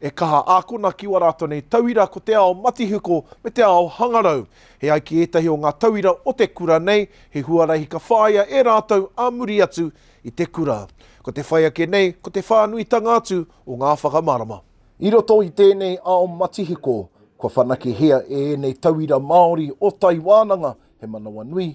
E kaha ākona ki wā rātou nei tauira ko te ao matihiko me te ao hangarau. E ai ki ētahi o ngā tauira o te kura nei, he huarahi ka whāia e rātou ā muri atu i te kura. Ko te whai ake nei, ko te whānuitanga atu o ngā whakamārama. I roto i tēnei ao matihiko, kua whanakehia e ēnei tauira Māori o Tai Wānanga he manawanui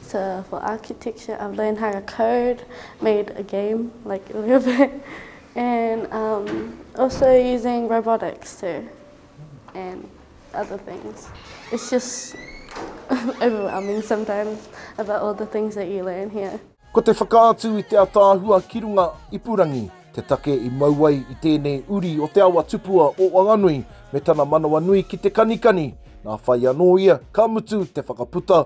So for architecture I've learned how to code, made a game like a little bit and um, also using robotics too and other things. It's just overwhelming sometimes about all the things that you learn here. Ko te whakaatu i te ataahua ki runga ipurangi te take i mau ai i tēnei uri o te awa tupua o Wanganui me tana manawanui ki te kanikani, nā whai anō ia ka mutu te whakaputa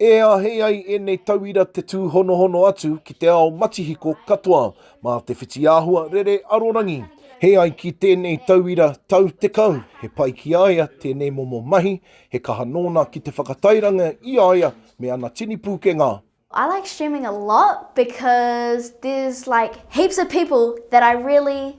E āhei ai ēnei tauira te tūhonohono atu ki te ao matihiko katoa mā te whitiāhua rere arorangi. He ai ki tēnei tauira tau 10, he pai ki a ia tēnei momo mahi, he kaha nōna ki te whakatairanga i a ia me ana tini pūkenga. I like streaming a lot because there's like heaps of people that I really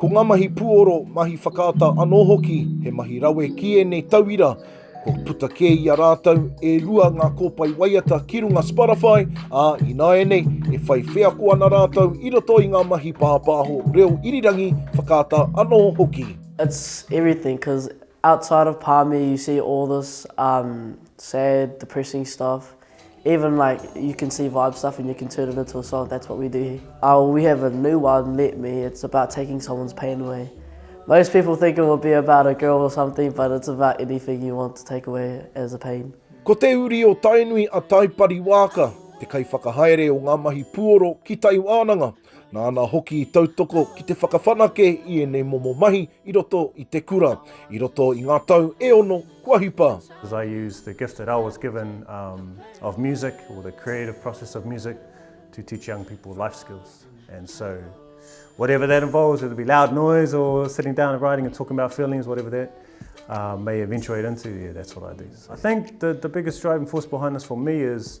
Ko ngā mahi puoro, mahi whakaata anō hoki he mahi rawe ki ēnei tauira, kua puta kē i a rātou e rua ngā kōpae waiata ki runga Spotify, ā, ināianei e whai wheako ana rātou i roto i ngā mahi pāpāho reo irirangi, whakaata anō hoki. It's everything cause outside of Pāme you see all this um sad, depressing stuff. Even like you can see vibe stuff and you can turn it into a song, that's what we do here. Uh, we have a new one, Let Me, it's about taking someone's pain away. Most people think it will be about a girl or something, but it's about anything you want to take away as a pain. Ko te uri o Tainui a Taipari Waaka, te kaiwhakahaere o ngā mahi puoro ki Tai Wānanga. Nāna hoki i tautoko ki te whakawhanake i ēnei momo mahi i roto i te kura, i roto i ngā tau e ono kua hipa. As I use the gift that I was given um, of music or the creative process of music to teach young people life skills. And so, whatever that involves, whether it be loud noise or sitting down and writing and talking about feelings, whatever that uh, may eventuate into, yeah, that's what I do. I think the, the biggest driving force behind this for me is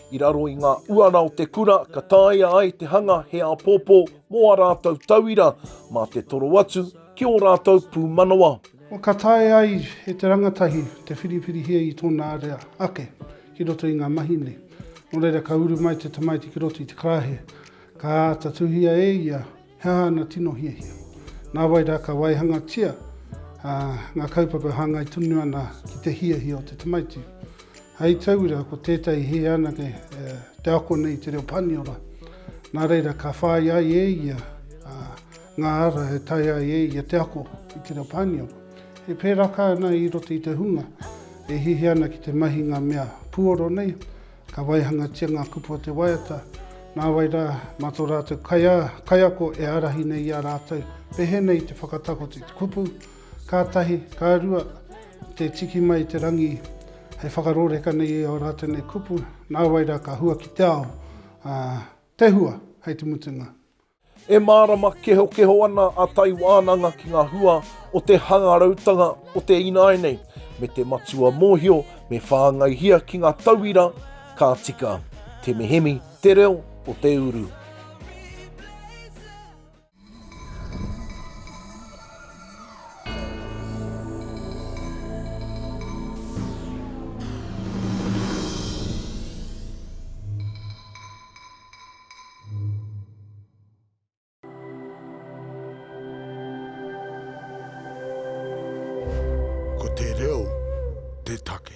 I raro i ngā uara o te kura ka taea ai te hanga he āpōpō mō ā rātou tauira mā te toro atu ki ō rātou pūmanawa. Kua ka taea ai e te rangatahi te whiriwhirihia i tōna area ake ki roto i ngā mahi nei. Nō reira ka uru mai te tamaiti ki roto i te karaehe, ka āta tuhia e ia He aha ana tino hiahia? Nā wai rā ka waihangatia ngā kaupapa hāngai tonu ana ki te hiahia o te tamaiti. Hei tauira, ko tētahi he anake te ako nei i te reo Pāniora. Nā reira, ka whāi ai e ia ngā ara e taea ai e ia te ako i te reo Pāniora. He pēraka ana i roto i te hunga e hiahia ana ki te mahi ngā mea puoro nei, Ka waihangatia ngā kupu o te waiata, nāwai rā, mā tō rātou kaiako e ārahi nei i a rātou, pēhenei te whakatakoto i te kupu, ka tahi, ka rua, te tiki mai i te rangi hei whakarōreka nei i ō rātou nei kupu, nāwai rā ka hua ki te ao, ā, te hua hei te mutunga. E mārama kehokeho ana a Tai Wānanga ki ngā hua o te hangarautanga o te ināi nei, me te matua mōhio me whāngaihia ki ngā tauira ka tika. Temehemi te reo o te uru. Ko te reo te take.